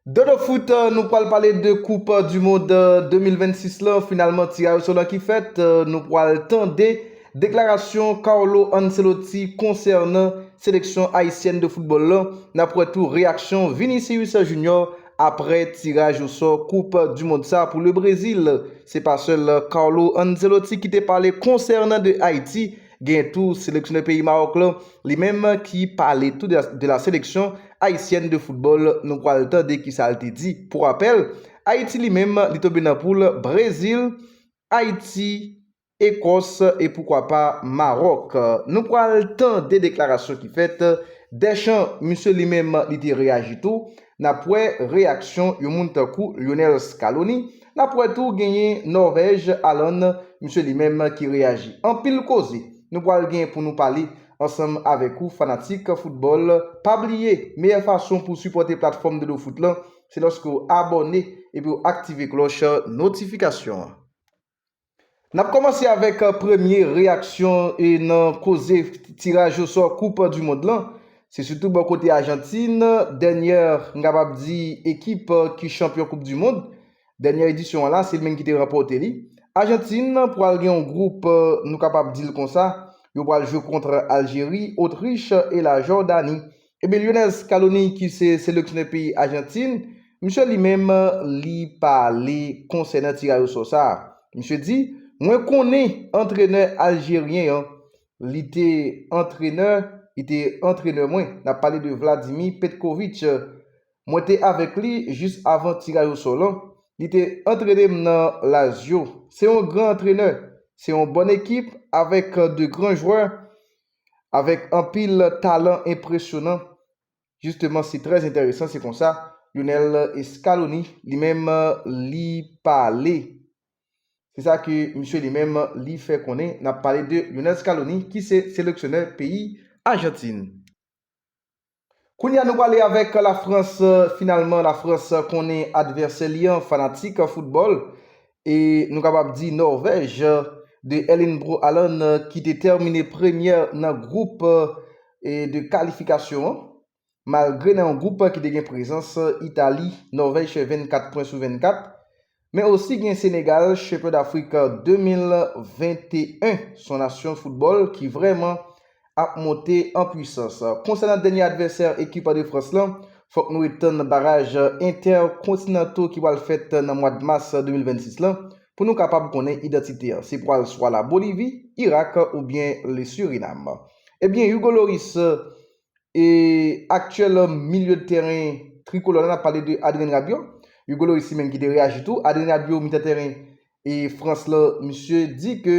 Dodo foot nou pwal pale de koup du mond 2026 lan finalman tiraj oso lan ki fèt nou pwal tande deklarasyon Carlo Ancelotti konsènan seleksyon ayisyèn de football lan nap wè tou reyaksyon Vinicius Junior aprè tiraj oso koup du mond sa pou le Brésil se pa sèl Carlo Ancelotti ki te pale konsènan de Ayiti Gen tou seleksyonè peyi Maroc lan li menm ki pale tou de la seleksyon Ayisyèn de foutbòl nou pwal tande ki sal te di. Pou rapèl Ayiti li menm li tonbe nan poul Brezil, Ayiti, Ekòs e poukwa pa Maroc. Nou pwal tande deklarasyon ki fèt Deschamps misye li menm li te reyaji tou N ap wè reyaksyon yon moun tankou Lionel Scaloni. N ap wè tou genyen Norvèj Alan, misye li menm ki reyaji. Anpil koze nou pral gen pou nou pale ansanm avèk ou fanatik foutbòl. Pa bliye meyè fason pou w sipòte platfòm Dodo Foot lan se lòske w abòne epi w aktive klòch notifikasyon an. N ap kòmanse avèk premye reyaksyon nan koze tiraj osò koup du mond lan. Se sitou bò kote Ajantin, dènyè m kapab di ekip ki chanpyon koup du mond, dènyè edisyon an la se li menm ki te ranpòte li. Ajantin pwal gen yon gwoup nou kapab di l konsa, yo pwal jwe kontr Aljeri, Otrich e la Jòdani. Ebyen Lionel Scaloni ki se seleksyonè peyi Ajantin, misye li menm li pale konsènan tiraj osò sa. Misye di, Mwen konnen antrenè aljeryen an, li te antrenè, li te antrenè mwen, n ap pale de Vladimir Petkovic. Mwen te avèk li jis avan tiraj osò lan. Li te antrene m nan Lazio. Se yon gran antrenè. Se yon bòn ekip avèk de gran jwè. avèk anpil talan enpresyonan, jisteman se trè entèresan se konsa Lionel Scaloni li menm li pale se sa ke misye li menm li fè konnen n ap pale de Lionel Scaloni ki se seleksyonè peyi Ajantin. Kounye a nou pale avèk la Frans, finalman la Frans konnen advèsè li an fanatik foutbòl e nou kapab di Nòvèj de Erling Bro Haaland ki te tèmine premyè nan gwoup de kalifikasyon an malgre nan yon gwoup ki te gen prezans Itali, Nòvèj fè 24 pwen sou 24 Men osi gen Senegal Shepherd Africa 2021 son nasyon foutbòl ki vrèman ap monte an pwisans. Konsènan dènye advèsè ekip de Frans lan, fòk nou ret tann baraj entèkontinanto ki pral fèt nan mwad mas 2026 lan pou nou kapab konnen idantite an. Se pral swa la Bolivi, Irak oubyen le Surinam. Ebyen Hugo Lloris. e aktyèl milye de tèren trikolò la, n ap pale de Adrien Rabiot, Hugo Lloris li menm ki te reyaji tou, Adrien Rabiot mitan tèren e Frans la, misye di ke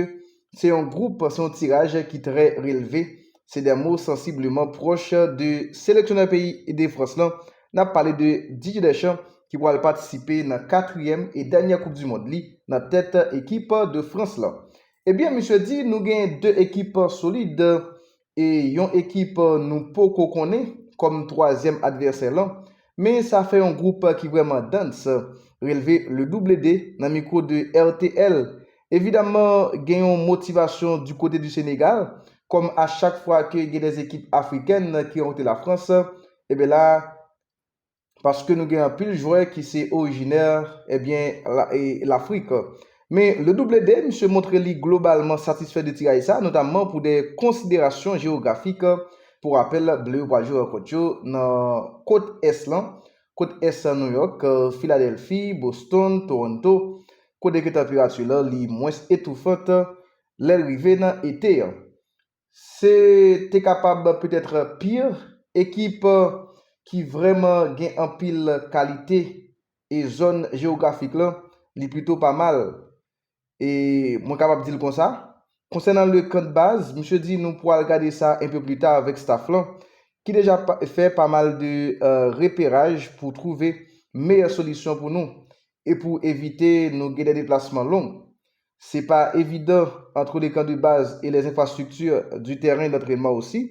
se yon gwoup, se yon tiraj ki trè relve, se dè mo sansibleman pwòch de seleksyonè peyi de Frans lan, n ap pale de Didier Deschamps ki pral patisipe nan katriyèm e dènyè koup di mond li nan tèt ekip de Frans lan. Ebyen misye di nou gen 2 ekip solid e yon ekip nou poko konnen kòm twazyèm advèsè lan, men sa fè yon gwoup ki vrèman dance, relve le double de nan mikwo de RTL. Evidamman gen yon motivasyon du kote du Senegal, kòm a chak fwa ke gen des ekip afrikèn ki rankontre la France, eben la, paske nou gen anpil jwè ki se orijinè ebyen Lafrik. Men Le Double D misye montre li globalman satisfè de tiraj sa, notamman pou de konsiderasyon jewografik, pou rapèl Ble yo pral jwe rankont yo nan kot ès lan, kot ès New York, Filadèlfi, Boston, Toronto, kote ke tanperati lan li mwens etoufant lèl rive nan ete an. Se te kapab peut-être pire, ekip ki vrèman gen anpil kalite e zòn jewografik lan li plito pa mal. E mwen kapab di l konsa. Konsènan le camp de base, misye di nou pwal gade sa un peu plus tard avèk staff lan ki deja fè pa mal de reperaj pou twouve meyè solisyon pou nou e pou evite nou gen dè deplasman long. Se pa evidan antre le kan de baz e lè enfrastrikti di tèren dantrenman osi,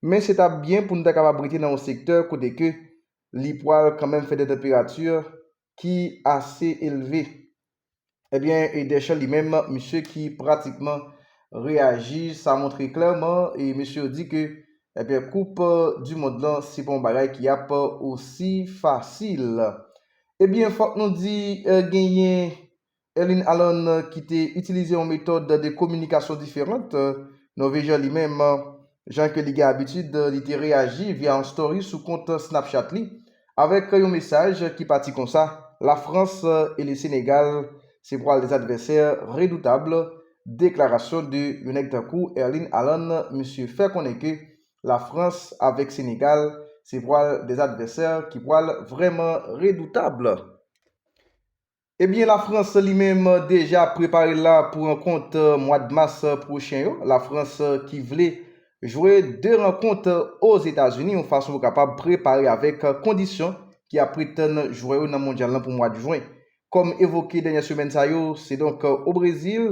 men se ta byen pou nou ta kapab rete nan yon sektè kote ke li pwal kanmenm fè de tanperati ki ase elve. Ebyen e Deschamps li menm, misye ki pratikman reyaji sa montre klèman e mesye yo di ke ebyen koup di mond lan se pa yon bagay ki ap osi fasil. Ebyen fòk nou di genyen Erling Haaland ki te itilize yon metòd de kominikasyon diferant, Nòvejyen li menm, jan ke li gen abitid, li te reyaji via yon story sou kont Snapchat li, avèk yon mesaj ki pati konsa, La France et le Sénégal se pwal 2 advèsè redoutab, deklarasyon de yon nèg tankou Erling Haaland, misye fè konnen ke La France avèk Sénégal se pwal 2 advèsè ki pwal vrèman redoutab. Ebyen la France li menm deja ap prepare la pou rankont mwad mas pwochen yo, la France ki vle jwe 2 rankont o Zetazini yon fason pou kapab prepare avèk kondisyon ki ap pretann jwè yo nan mondyal lan pou mwad jwen. Kòm evoke dènyè semèn sa yo, se donk o Brezil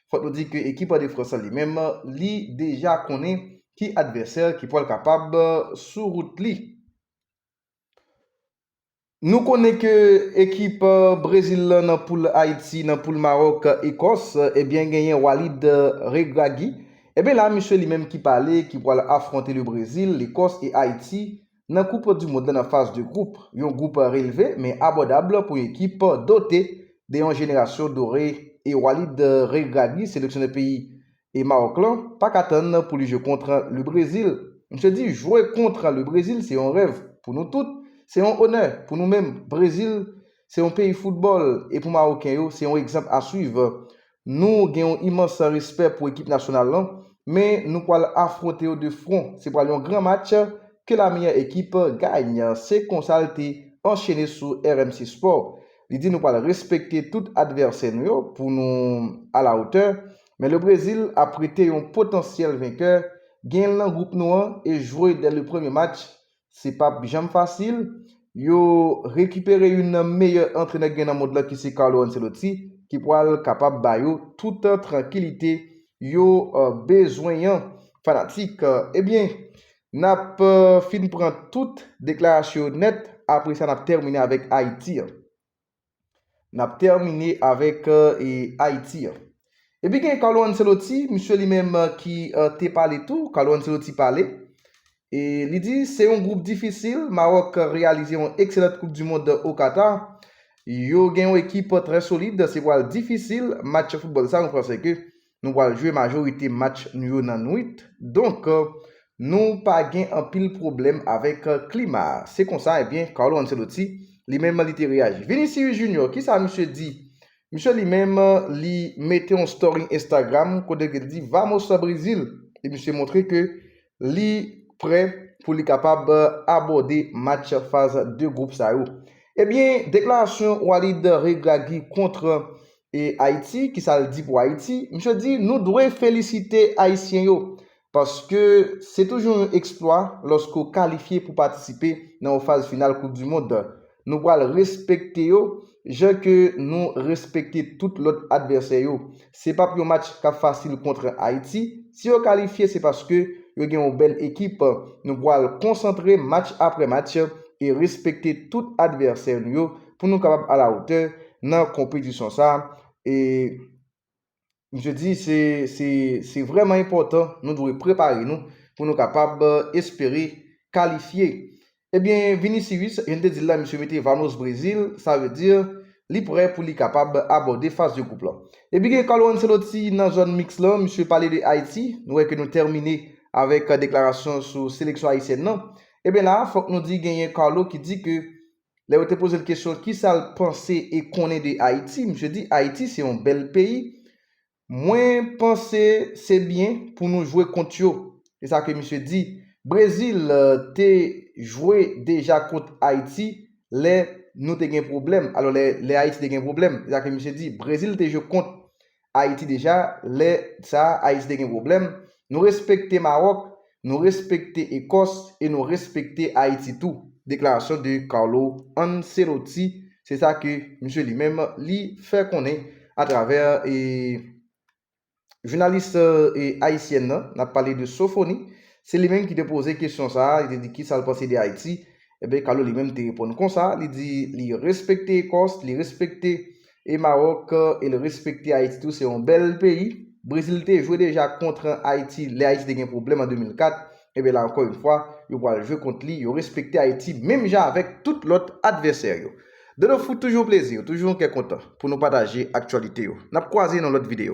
Fòk nou di ke ekip de Frans lan li menm, li deja konnen ki advèsè ki pwal kapab sou wout li. Nou konnen ke ekip Brezil lan nan poul Ayiti, nan poul Maròk, Ekòs, ebyen genyen Walid Regragui. Ebyen la misye li menm ki pale ki pwal afwonte le Brezil, Lekòs e Ayiti Nan koup du mond la nan faz de gwoup, yon gwoup relve men abòdab pou yon ekip dote de yon jenerasyon dore e Walid Regragui seleksyonè peyi e Mawòk lan pa ka tann pou li jwe kontr le Brezil. Msye di jwe kontr le Brezil se yon rèv pou nou tout, se yon onè pou nou menm. Brezil se yon peyi foutbòl e pou Mawoken yo se yon egzanp a swiv Nou gen yon imans respè pou ekip nasyonal lan, men nou pwal afwonte yo de fwon, se pwal yon gran match, ke la meyè ekip gany, se konsa l te anchene sou RMC Sport. Li di nou pwal respekte tout advèsè nou yo pou nou a la otè, men le Brezil ap rete yon potansyèl venkè, genyen l nan gwoup nou an e jwe dè le premye match, Se pa p janm fasil. Yo rekipere youn nan meyè antrenè k gen nan mond lan ki se Carlo Ancelotti ki pral kapab ba yo tout trankilite yo bezwen an. Fanatik, ebyen n ap fin pran tout deklarasyon yo nèt, apre sa n ap tèmine avèk Ayiti an. N ap tèmine avèk Ayiti an. Epi gen Carlo Ancelotti, misye li menm ki te pale tou, Carlo Ancelotti pale. E li di, se yon gwoup difisil, Mawòk reyalize yon ekselant koup di mond o Katar. Yo gen yon ekip trè solid, se pral difisil match foutbòl sa nou panse ke Nou pral jwe majorite match nou yo nan nwit, donk nou pa gen anpil pwoblèm avèk klima a. Se konsa, ebyen, Carlo Ancelotti, li menm, li te reyaji. Vinicius Junior, ki sa misye di? Misye li menm, li mete yon story Instagram kote ke li di Vamos Brésil! E misye montre ke Li prè pou li kapab abòde match faz de gwoup sa yo. Ebyen deklarasyon Walid Regragui kontr Ayiti, kisa l di pou Ayiti? Misye di nou dwe felisite Ayisyen yo paske se toujou yon eksplwa lòske w kalifye pou patisipe nan yon faz final koup du mond. Nou pral respekte yo jan ke nou respekte tout lòt advèsè yo. Se p ap yon match k ap fasil kontr Ayiti. Si yo kalifye se paske yo gen yon bèl ekip. Nou pral konsantre match apre match e respekte tout advèsè nou yo pou nou kapab alawotè nan konpetisyon sa a. Misye di se vrèman enpòtan nou dwe prepare nou pou nou kapab espere kalifye. Ebyen Vinicius jan n te di l la misye mete Vamos Brazil sa vle di li prè pou li kapab abòde faz de gwoup lan. Epi gen Carlo Ancelotti nan zòn miks lan misye pale de Ayiti nou wè ke nou tèmine avèk deklarasyon sou seleksyon ayisyèn lan. Ebyen la fòk nou di genyen Carlo ki di ke Lè yo te poze l kesyon ki sa l panse e konnen de Ayiti, misye di Ayiti se yon bèl peyi. Mwen panse se byen pou nou jwe kont yo. Se sa ke misye di. Brezil te jwe deja kont Ayiti lè nou te gen pwoblèm, alò lè Ayiti te gen pwoblèm. Se sa ke misye di. Brezil te jwe kont Ayiti deja lè sa Ayiti te gen pwoblèm, nou respekte Maròk, nou respekte Ekòs e nou respekte Ayiti tou, deklarasyon de Carlo Ancelotti, se sa ke misye li menm li fè konnen atravè e jounalis e ayisyèn nan, n ap pale de Sofoni, se li menm ki te poze kesyon sa, li te di ki sa l panse de Ayiti, enben Carlo li menm te reponn konsa, li di li respekte Ekòs, li respekte e Maroc el respekte Haiti tou se yon bel peyi Brésil te jwe deja kontre Haiti lè Haiti te gen problem an 2004 ebyen la anko yn fwa yo pwal jwe kont li yo respekte Haiti menm jan avek tout lot advèsè yo Dodo foot toujou yon plezi toujou yon kè kontan pou nou pataje aktyalite yo nap kwaze nan lot video.